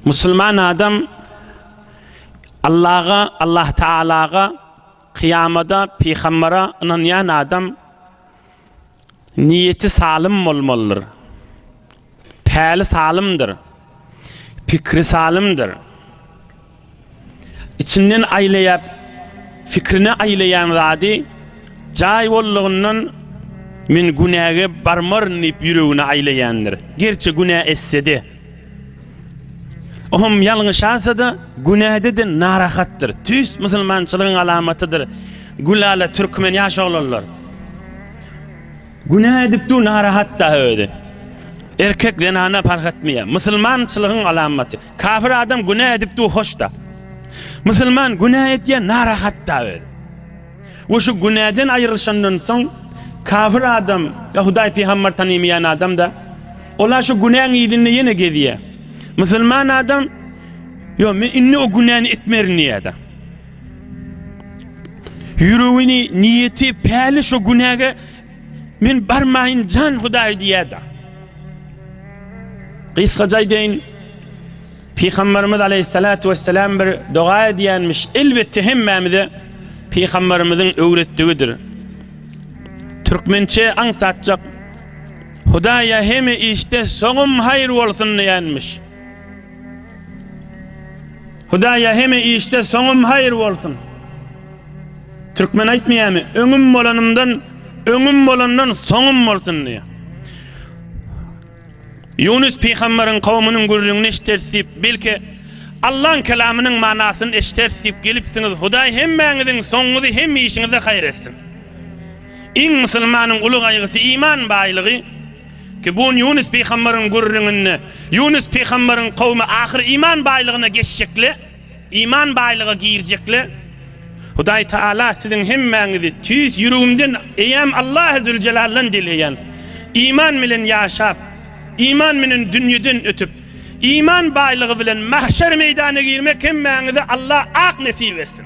Musulman adam Allaha, Allah Taalaga, kyýamada, pygambere ynanýan adam niýeti salym bolmalydyr. Päli salymdyr. Pikri salymdyr. Içinden aýlaýap, fikrine aýlaýan zady jaý boldugyndan men günäge barmaryn diýip ýüregine aýlaýandyr. Gerçi günä etse-de. Ohm ýalňyşasa-da, günäde-de narahatdyr. Tüýs musulmançylygyň alamatydyr. Gülala türkmen ýaş oglanlar. Günä edip dur narahat dagy özi. Erkek zenana parh etmeýär. Musulmançylygyň alamaty. Kafir adam günä edip du hoşda. Musulman günä etýän narahat da öz. We şu günäden aýrylyşandan soň kafir adam ya Hudaý pygamber tanymyan adam da ola şu günäň ýüzünde ýene gezýä. Musulman adam yo men indi o günäni etmerin diýýä da. Ýüregini niýeti päli şu günäge Men barmaýyn jan Hudaý diýýärdi. Gysgaça aýdaýyn, Pygamberimiz aleyhissalatu vesselam bir doga edýänmiş. Elbetde hemmämize Pygamberimiziň öwretdigidir. Türkmençe aňsatjak Hudaýa heme işde soňum haýyr bolsun diýenmiş. Hudaýa heme işde soňum haýyr bolsun. Türkmen aýtmaýamy, öňüm bolanymdan, öňüm bolandan soňum bolsun diýýär. Ýunus pygamberiň kowumynyň gürrüňini eşideriz diýip, belki Allaň kelamynyň manasyny eşideriz diýip gelipsiňiz, Hudaý hemmäňiziň soňuňyzy hem işiňizi haýyr etsin. Iň musulmanyň uly gaýgysy iman baýlygy. Kibun Ýunus pygambaryň gürrüňinde Ýunus pygambaryň kowmy ahyr iman baýlygyna geçjekler, iman baýlyga girjekler. Hudaý Taala siziň hemmäňizi tüýs ýüregimden eýäm Allahy Züljelaldan dileýän, iman bilen ýaşap, iman bilen dünýeden ötüp, iman baýlygy bilen mahşer meýdana girmek hemmäňize Allah ak nesip etsin.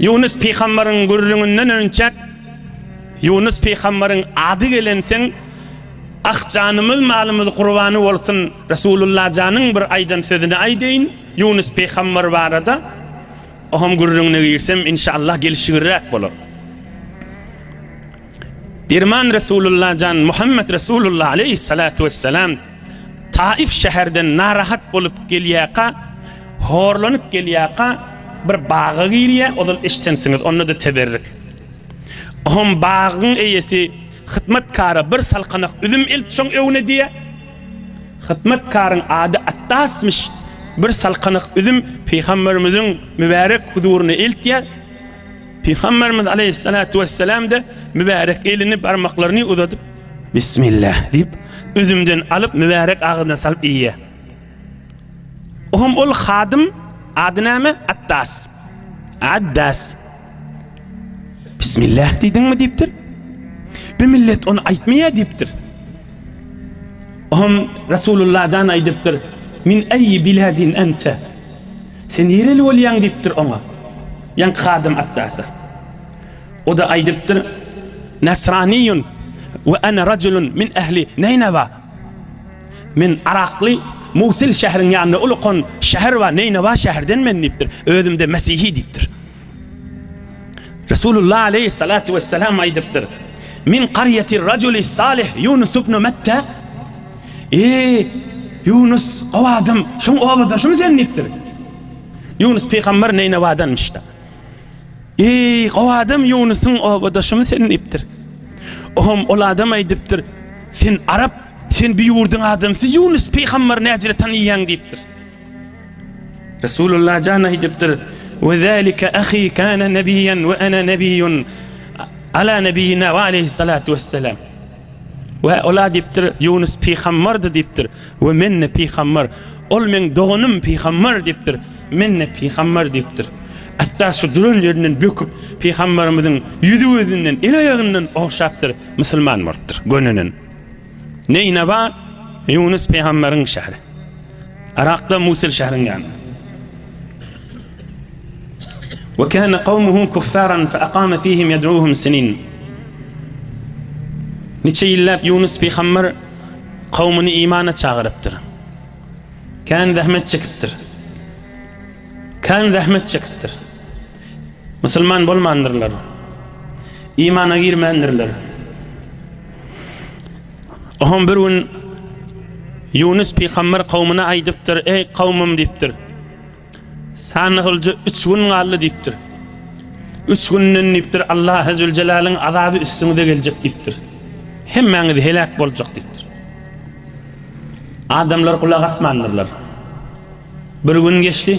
Ýunus pygambaryň gürrüňinden önçäk Ýunus pygambaryň ady gelenseň Ah janymyz malymyz gurbany bolsun Resulullah janyň bir aýdan sözüni aýdaýyn Ýunus pygambar barada Ohm gürrüňine girsem inşallah gelişigirräk bolar. Derman Resulullah jan Muhammet Resulullah aleýhi salatu wessalam. Taif şäherden narahat bolup gelýärka, horlanyp gelýärka, bir baga girýär, ozal eşidensiňiz, onda-da teberrik. Oňam bagyň eýesi hyzmatkara bir salkanak üzüm elt şoň öňüne diýýär. Hyzmatkaryň ady Attasmyş. Bir salkanak üzüm pygamberimiziň mübärek huzuryna eltýär. Pygamberimiz aleýhissalatu wesselam-da mübärek elini, barmaklaryny uzadyp, Bismillah diýip, üzümden alyp, mübärek agyzyna salyp iýýär. O hem ol hadym, ady näme? Attas. Addas. Bismillah diýdiňmi diýipdir. Bu millet ony aýtmaýar diýipdir. O hem Resulullah jan aýdypdyr, Min eýi biladin ente? Sen nireli bolýaň? diýipdir oňa ýaňky hadym Atdasa. O-da aýdypdyr, Nasraniýun we ana rajulun min ähli Neýnawa. Men yrakly, Musil şähriň ýanynda ulakan şäher bar, Neýnawa şäherden men diýipdir. Özüm-de mesihi diýipdir. Resulullah aleýhissalatu wessalam aýdypdyr, Min karýatir raculis salih Ýunus ibnu Metta, Eý, Ýunus, gowy adam, şuň obadaşymy sen? diýipdir. Ýunus pygamber Neýnewadanmyş-da. Eý, gowy adam, Ýunusyň obadaşymy sen? diýipdir. Oňam ol adam aýdypdyr, Sen arap, sen bu ýurduň adamsy, Ýunus pygamber näjire tanaýaň? diýipdir. Resulullah jan aýdypdyr, We zälike ahy kana nebiyyan we ana nebiyyun ala nebiyyina we aleýhissalatu wessalam. We ol aýdypdyr, Ýunus pygamberdi diýipdir, we men-de pygamber. Ol meň doganym pygamber diýipdir, men-de pygamber diýipdir. Hatda şu duran ýerinden böküp, pygamberimiziň ýüzi-gözünden, el-aýagyndan ogşapdyr, musulman bolupdyr, gönenen. Neýnaba Ýunus pygamberiň şäheri. Yrakda Musil şäheriň ýanynda. Ve kana kavmuhu kuffaran fe aqama fihim yed'uhum sinin. Niçe ýyllap Ýunus pygamber kavmini imana çagyrypdyr. Kan zahmet çekipdir. Kan zahmet çekipdir. Musulman bolmandyrlar. Imana girmändirler. Ohum bir gün Ýunus pygamber kawmyna aýdypdyr, eý kawmym diýipdir. Sanygylja üç gün galdy diýipdir. Üç günden diýipdir Allahy züljelaliň azaby üstüňize geljek diýipdir. Hemmäňiz heläk boljak diýipdir. Adamlar gulak asmandyrlar. Bir gün geçdi.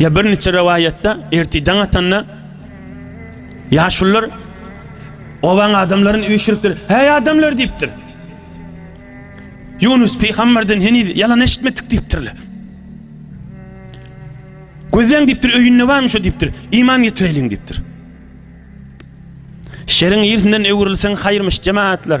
Ýa bir niçe rewaýatda erti daň atanda ýaşulylar obaň adamlaryny üýşüripdir. Häý adamlar diýipdir. Ýunus pygamberden heniz ýalan eşitmedik diýipdirler. Gözleň diýipdir, öýünde barmy şu diýipdir. Iman getireýliň diýipdir. Şeriň ýerinden öwrülseň haýyrmyş jemaatlar.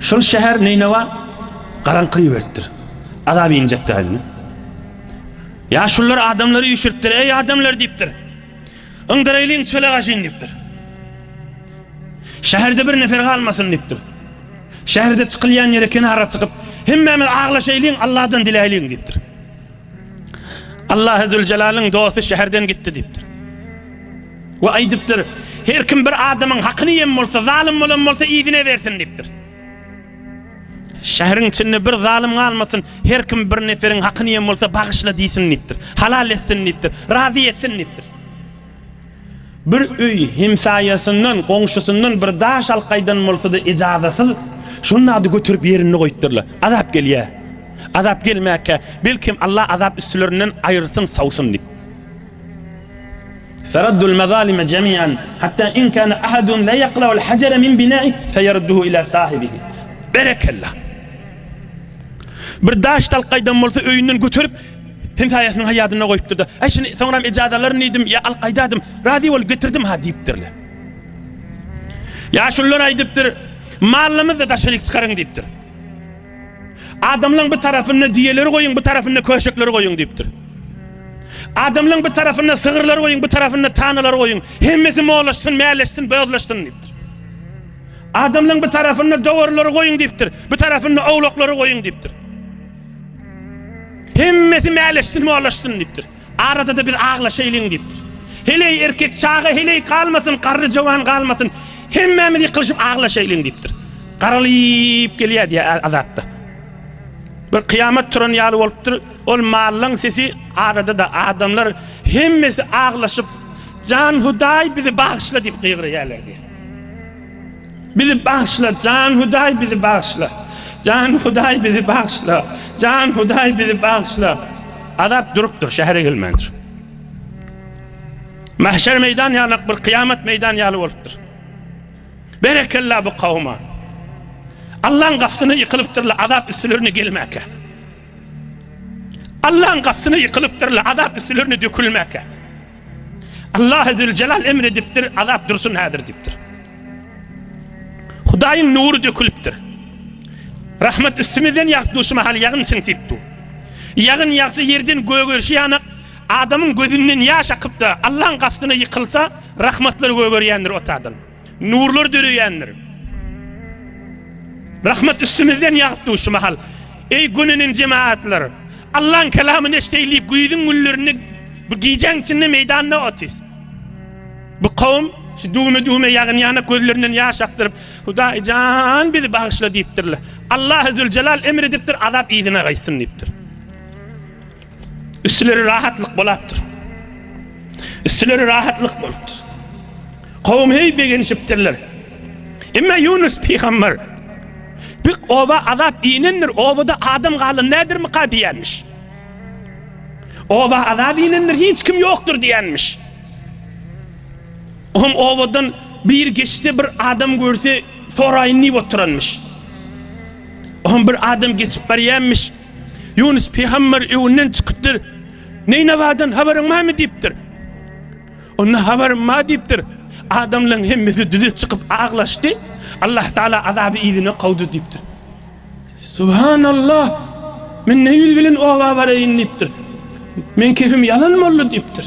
Şol şäher Neýnawa garaňky iberipdir. Azap injek dälmi? Ýaşulular adamlary üýşüripdir. Eý adamlar diýipdir. Yňdyraýlyň çöle gaşyn diýipdir. Şäherde bir nefer galmasyn diýipdir. Şäherde çykylýan ýere kenara çykyp, hemmämiz aglaşaýlyň, Alladan diläýliň diýipdir. Allahy Züljelalyn dosty şäherden gitdi diýipdir. We aýdypdyr, Her kim bir adamyň hakyny ýem bolsa, zalym bolan bolsa yzyna bersin diýipdir. Şäheriň içinde bir zalym galmasyn, her kim bir neferiň hakyny ýem bolsa bagyşla diýsin diýipdir. Halal etsin diýipdir. Razy etsin diýipdir. Bir öý hemsaýasyndan, goňşusyndan bir daş alyp gaýdan bolsa-da ejazasyz, şonda-da göterip ýerinde goýupdyrlar. Azap gelýä. Azap gelmäkä, belkem Allah azap üstlerinden aýyrsyn, sawsyn diýip. Feraddul mazalime jemian, hatta in kana ahadun la yakla'ul hajara min bina'i feyarudduhu ila sahibihi. Berekella. Bir daş alyp gaýdan bolsa öýünden göterip Hemsaýasynyň haýadynda goýupdyr-da, Äý, şuny soňram ejaza alaryn diýdim, ýa alyp gaýdadym, razy bolup getirdim-ha diýipdirler. Ýaşulular aýdypdyr, Malymyzy daşaryk çykaryň diýipdir. Adamlaryň bir tarapyna düýeleri goýuň, bir tarapyna köşekleri goýuň diýipdir. Adamlaryň bir tarapyna sygyrlary goýuň, bir tarapyna tanalary goýuň. Hemmesi molaşsyn, mäleşsin, bozlaşsyn diýipdir. Adamlaryň bir tarapyna dowarlary goýuň diýipdir, bir tarapyna owlaklary goýuň diýipdir. Hemmesi mäleşsin, molaşsyn diýipdir. Arada-da biz aglaşaýlyň diýipdir. Heleý erkek, çaga heleý galmasyn, garry jowan galmasyn, hemmämiz ýykylyşyp aglaşaýlyň diýipdir. Garalyp gelýär diýýär Azatda. Bir kyýamat turan ýaly bolupdyr. Ol mallaň sesi arada-da adamlar hemmesi aglaşyp, Jan Hudaý bizi bagyşla diýip gygyrýarlar diýýär. Bizi bagyşla jan hudaý bizi bagyşla jan hudaý bizi bagyşla jan hudaý bizi bagyşla. Azap durupdyr şähere gelmändir. Mahşer meýdan ýalak bir kyýamat meýdan ýaly bolupdyr. Berekella bu kawuma. Allaň gafsyny ýykylypdyrla azap üstülerine gelmäkä. Allaň gapsyna ýykylypdyr-la, azap üstülerine dökülmäkä. Allah Züljelal emr edipdir, azap dursun häzir diýipdir. Hudaýyň nury dökülipdir. Rahmet üstümizden ýagyp dur, şu mahal ýagyn çyn diýip dur. Ýagyn ýagsa ýerden gögerişi ýanak, adamyň gözünden ýaş akyp-da, Allaň gapsyna ýykylsa, rahmetler gögerýändir otadan. Nurlar döreýändir. Rahmet üstümizden ýagypdy şu mahal. Eý gönenen jemaatlar, Allah'yň kelamyny eşdeýlik, güýzüň günlerini bu gijäň içinde meýdanda otyz. Bu kowum şu düwme-düwme ýagyn ýanak gözlerinden ýaş akdyryp, Hudaý jan bizi bagyşla diýipdirler. Allah Züljelal emr edipdir, azap yzyna gaýtsyn diýipdir. Üstüleri rahatlyk bolapdyr. Üstüleri rahatlyk bolupdyr. Kowum heý begenişipdirler. Emma Ýunus pygamber bu oba azap inendir, obada adam galan nädirmika diýenmiş. Oba azap inendir, hiç kim ýokdur diýenmiş. Oňam obadan bir geçse bir adam görse soraýyn diýip oturanmyş. Oňam bir adam geçip barýanmyş. Ýunus pygamber öwünden çykypdyr. Neýnawadan habaryň barmy diýipdir. Onda habarym bar diýipdir. Adamlaryň hemmesi düze çykyp aglaşdy. Allah Taala azaby yzyna kowdy diýipdir. Subhanallah. Men ne ýüz bilen oba baraýyn diýipdir. Men kefim ýalan boldy diýipdir.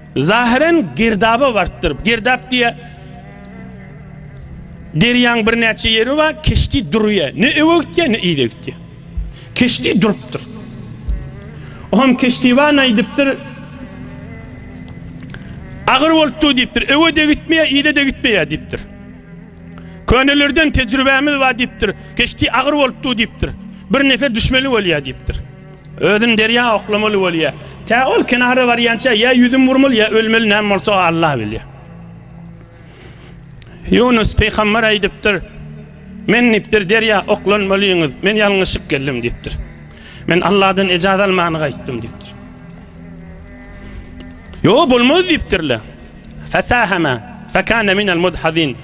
Zahyren girdaba barypdyr. Girdap diýe derýaň birnäçe ýeri bar, keşdi durýar. Ne öňe gitýär, ne yza gitýär. Keşdi durupdyr. Oňam keşdiwan aýdypdyr. Agyr bolupdy diýipdir. Öňe-de gitmeýär, yza-da gitmeýär diýipdir. Könelerden tejribämiz bar diýipdir. Keşdi agyr bolupdy diýipdir. Bir nefer düşmeli bolýar diýipdir. Özün derýa oklamaly bolýa. Tä ol kenara barýança ýa ýüzüm vurmaly ýa ölmeli näme bolsa Allah bilýär. Ýunus peýgamber aýdypdyr. Men nipdir derýa oklanmalyňyz. Men ýalňyşyp geldim diýipdir. Men Allahdan ejaz almany gaýtdym diýipdir. Ýo bolmaz diýipdirler. Fasahama fakana min al-mudhazin.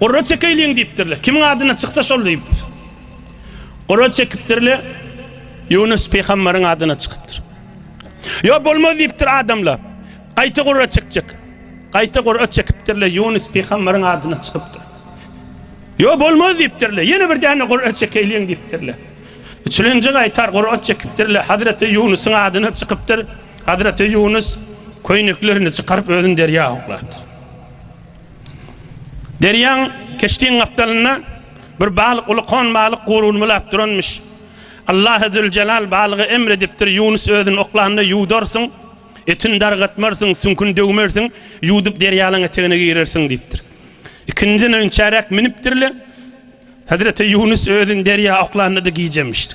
Gurra çekeýliň diýipdirler. Kimiň adyna çyksa şol diýipdir. Gura çekipdirle, Ýunus pygambaryň adyna çykypdyr. Ýok, bolmaz diýipdir adamla. Gaýta gura çekjek. Gaýta gura çekipdirle, Ýunus pygambaryň adyna çykypdyr. Ýok, bolmaz diýipdirle. Ýene bir däne gura çekeýliň diýipdirle. Üçülenji gaýtar gura çekipdirle, Hazreti Ýunusyň adyna çykypdyr. Hazreti Ýunus köýneklerini çykaryp özüni derýa oklapdyr. Derýaň keşdiň gapdalynda bir balyk uly kon balyk guruny bulap duranmyş. Allah Züljelal balyga emr edipdir, Ýunus özüni oklanda ýuwdarsyň, etini dargatmarsyň, süňküni döwmersiň, ýuwdup derýalaň etegine girersiň diýipdir. Ikindiden öýün çäräk minipdirle, Hezreti Ýunus özüni derýa oklanda-da gijemişdi.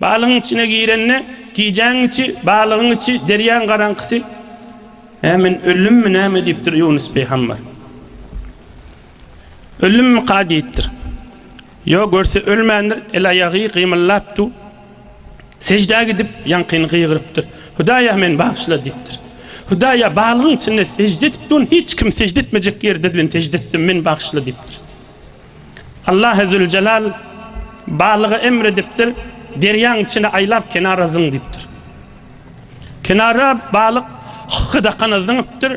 Balygyň içine girende, gijäň içi, balygyň içi, derýaň garaňkysy. Hä, men öldümmi näme diýipdir Ýunus pygamber. Öldümmika diýipdir. Ýok, görse ölmändir, el-aýagy gymyldapdu. Seždä gidip, ýaňkyny gygyrypdyr. Hudaý-a, meni bagyşla diýipdir. Hudaý-a, balygyň içinde sežde edip durun, hiç kim sežde etmejek ýerde men sežde etdim, meni bagyşla diýipdir. Allah züljelal balyga emr edipdir, derýaň içine aýlap kenara zyň diýipdir. Kenara balyk hydakana zyňypdyr.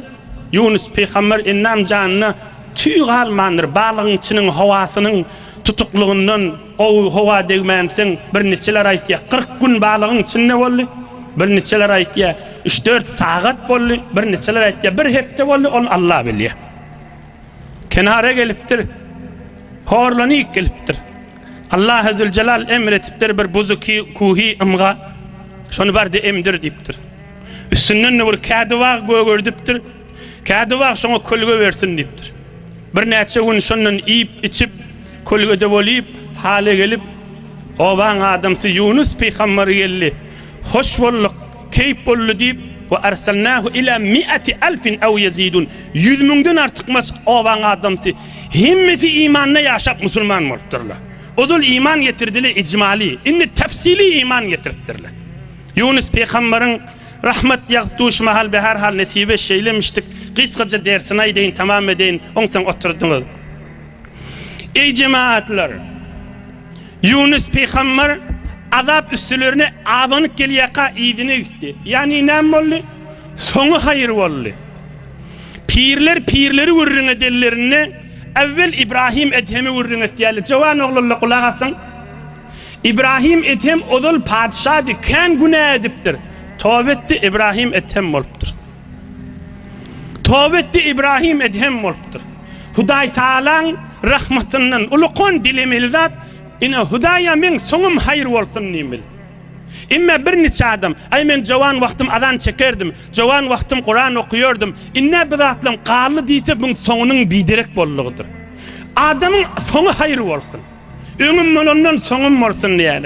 Ýunus pygamber endam janyna tüý galmandyr, balygyň içiniň howasynyň tutuklygyndan gowy howa degmändisin. Birniçeler aýtýar, kyrk gün balygyň içinde boldy. Birniçeler aýtýar, üç-dört sagat boldy. Birniçeler aýtýar, bir hepde boldy, ony Allah bilýär. Kenara gelipdir. Horlanyp gelipdir. Allahy Züljelal emr etipdir bir buzuky kuhy ymga. Şony bar-da emdir diýipdir. Üstünden-de bir kädibag gögerdipdir. Kädibag şoňa kölge bersin diýipdir. Birnäçe gün şondan iýip, içip, kölgede bolyp, hala gelip, obaň adamsy Ýunus pygambary geldi. Hoş bolduk! Keýp boldy diýip, Ve arsalnahu ila miati alfin aw ýezidun, Ýüz müňden artykmaç obaň adamsy, hemmesi imanda ýaşap musulman bolupdyrlar. Ozal iman getirdiler ijmali, indi tafsili iman getiripdirler. Ýunus pygambaryň, rahmet ýagyp duşy mahal we herhal nesibe şeýlemişdik, gysgaça dersini aýdaýyn, tamam edeýin, onsoň oturdyňyz. Eý jemaatlar! Ýunus pygamber azap üstülerine abanyp gelýärka yzyna gitdi. Ýagny näme boldy? Soňy haýyr boldy. Pirler pirleri gürrüň edenlerinde äwwel Ibrahim Edhemi gürrüň etýärler. Jowan oglanlar gulak asyň. Ibrahim Edhem ozal patyşady, kän günä edipdir. Toba etdi, Ibrahim Edhem bolupdyr. Toba etdi Ibrahim Edhem bolupdyr. Hudaý Taalaň rahmatyndan ulukon dilemeli zat ine Hudaýa meň soňum haýyr bolsun diýmeli. Emme bir niçe adam aý men jowan wagtym azan çekerdim, jowan wagtym Kuran okuyordum, indä bi zatlam galdy diýse buň soňunyň biderek boldugydyr. Adamyň soňy haýyr bolsun. Öňüm bolandan soňum bolsun diýeli.